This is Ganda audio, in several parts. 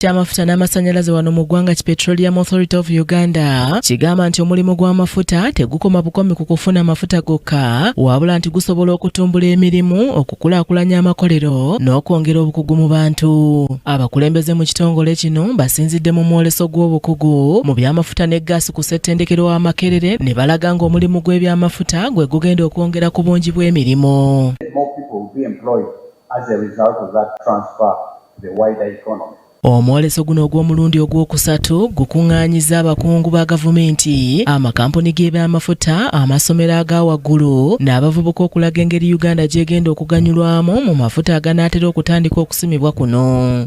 ky'amafuta n'amasannyalaze wano mu ggwanga ki Petroleum Authority of Uganda kigamba nti omulimu gw'amafuta tegukoma bukomi ku kufuna amafuta gokka wabula nti gusobola okutumbula emirimu okukulaakulanya amakolero n'okwongera obukugu mu bantu abakulembeze mu kitongole kino basinzidde mu mwoleso gw'obukugu mu by'amafuta ne gaasi ku ssettendekero wa Makerere ne balaga ng'omulimu gw'ebyamafuta gwe gugenda okwongera ku bungi bw'emirimu as a result of that transfer to the wider economy. Omwoleso guno ogw'omulundi ogwokusatu gukung'aanyizza abakungu ba gavumenti, amakampuni g'ebyamafuta, amasomero aga waggulu n'abavubuka okulaga engeri Uganda gy'egenda okuganyulwamu mu mafuta aganaatera okutandika okusimibwa kuno.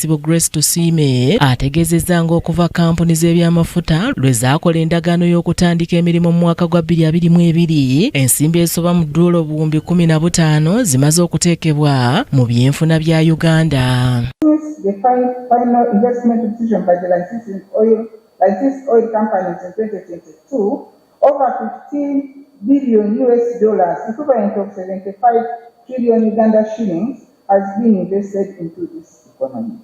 Ssebo Grace Tusiime ategeezezza ng'okuva kkampuni z'ebyamafuta lwe zaakola endagaano y'okutandika emirimu mu mwaka gwa 2022 ensimbi ezisoba mu ddoola obuwumbi 15 zimaze okuteekebwa mu byenfuna bya Uganda. Over 15 billion US dollars, equivalent of 75 trillion Uganda shillings, has been invested into this economy.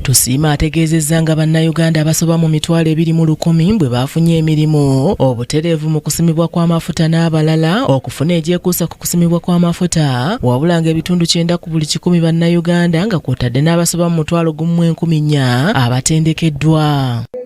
Tusiima ategeezezza nga bannayuganda abasoba mu mitwalo ebiri mu lukumi bwe baafunye emirimu obutereevu mu kusimibwa kw'amafuta n'abalala okufuna egyekuusa ku kusimibwa kw'amafuta wabula nga ebitundu kyenda ku buli kikumi bannayuganda nga kwotadde n'abasoba mu mutwalo gumu enkumi nnya abatendekeddwa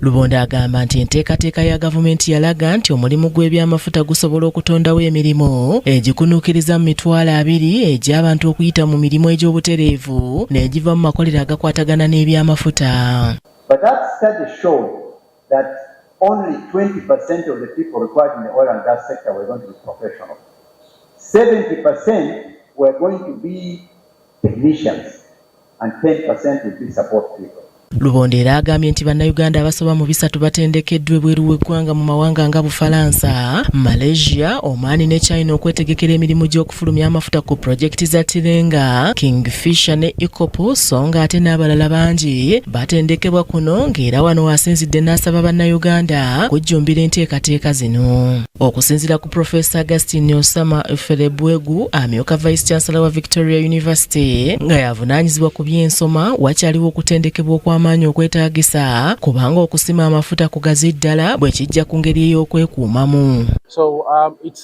Lubondo agamba nti enteekateeka ya gavumenti yalaga nti omulimu gw'ebyamafuta gusobola okutondawo emirimu egikunuukiriza mu mitwalo abiri egy'abantu okuyita mu mirimu egy'obutereevu n'egiva mu makolero agakwatagana n'ebyamafuta. that only 20% of the people required in the oil and gas sector were going to be professional. 70% were going to be technicians and 10% would be support people. Lubondo era agambye nti bannayuganda abasoba mu bisatu batendekeddwa ebweru w'eggwanga mu mawanga nga Bufalansa, Malaysia, Oman ne China okwetegekera emirimu gy'oku fulumya amafuta ku pulojekiti za Tilenga, Kingfisher ne Ikopo so nga ate n'abalala bangi batendekebwa kuno ng'era wano wasinzidde n'asaba Bannayuganda kujjumbira enteekateeka zino. Okusinzira ku Profesa Augustine Osama Ferebwegu amyuka Vice Chancellor wa Victoria University nga yavunaanyizibwa ku by'ensoma wakyaliwo okutendekebwa okw'amaanyi okwetaagisa kubanga okusima amafuta kugazi ddala bwe kijja ku ngeri ey'okwekuumamu. So, um, it's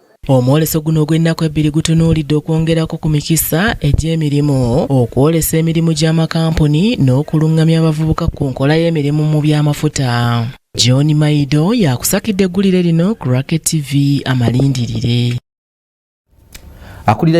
Omwoleso guno ogw'ennaku ebbiri gutunuulidde okwongerako ku mikisa egy'emirimu, okwolesa emirimu gy'amakampuni n'okulungamya abavubuka ku nkola y'emirimu mu by'amafuta. John Maido yakusakidde eggulire lino ku Racket TV amalindirire. Akulira